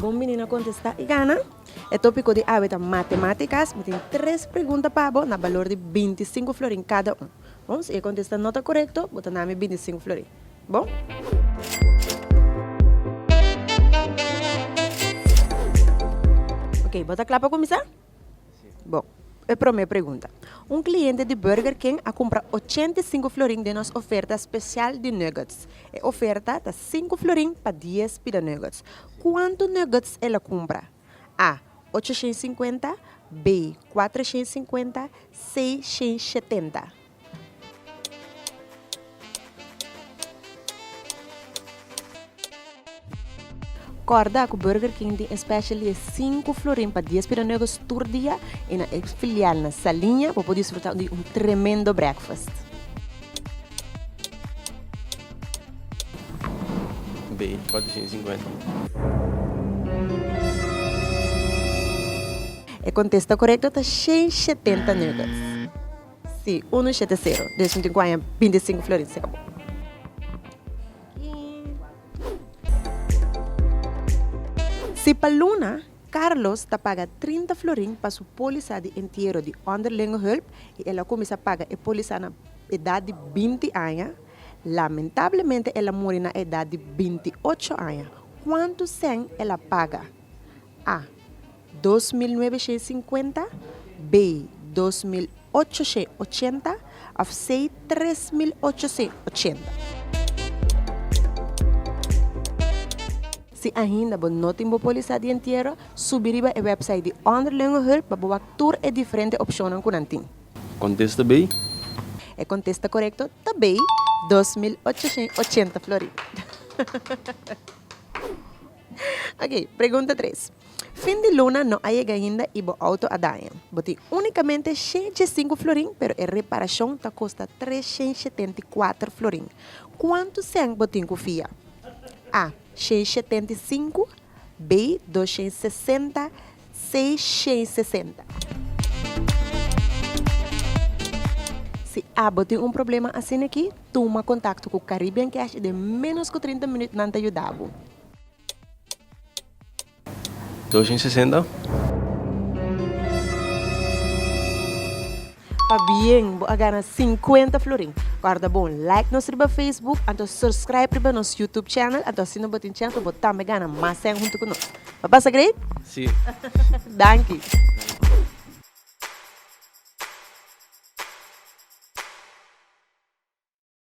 Bon bini na Contesta y Gana! E tópiko di awe ta Matemáticas. Mi tin tres pregunta pa bo na balor di binti sinku florin kada un. Bon, si e kontesta no ta korekto, bo ta na mi binti sinku florin. Bon! Oke, bo ta kla pa kuminsá? Bo e promé pregunta. Un kliente di Burger King a kumpra ochenta i sinku florin den nos oferta spesial di nuggets. E oferta ta sinku florin pa dies pida nuggets. Kuantu nuggets el a kumpra? A. Ocho shen sinkuenta B. Kuater shen sinkuenta C. Shen shetenta. Kòrda ku Burger King tin e special di e sinku florin pa dies pira nueves tur dia i na e filial na Saliña bo por disfruta di un tremendo breakfast. Bay cuatrocientos y cincuenta. E kontesta korekto ta shei shetenta nuggets. Si, unu shete sero. Deci tin guaña binti i sinku florin, se acabó. Si pa luna, Carlos ta paga trinta florin pa su polisa di entiero di Onderlingenhulp i el a cuminsa paga e polisa na edad di binti aña, lamentablemente el a muri na edad di binti ocho aña. Cuantu cen el a paga? A. Dos mil nuebe shei sinkuenta, be, dos mil ocho shei ochenta, òf sei, tres mil ocho sei ochenta. Si ainda bo no tin bo pólisá di entiero, subi riba e wèpsait di Onderlingenhulp pa bo wak tur e diferente opshonnan ku nan tin. Kontesta be. E kontesta korekto ta be, dos mil ocho shei ochenta florina. Oke, pregunta tres. Fin di luna no a yega ainda y bo auto a daña. Bo tin unicamente shentj e sinku florin pero e reparashon ta kosta tres shentj shetenta i kuater florin. Kuantu sènt bo tin ku fia? A. Shentj shetenta i sinku B. Dos shentj sesenta C. Shentj sesenta. Si abo tin un problema asina aki, tuma kontakto ku Caribbean Cash y den ménos ku trinta minüt nan ta yuda bo. Dos i sesenta. Pabien bo a gana sinkuenta florin? Kòrda bon like nos riba Facebook anto surskrib riba nos YouTube channel anto asina bo tin chèns pa bo tambe gana mas sèn huntu ku nos. Bo a pasa great? Sí. Danki.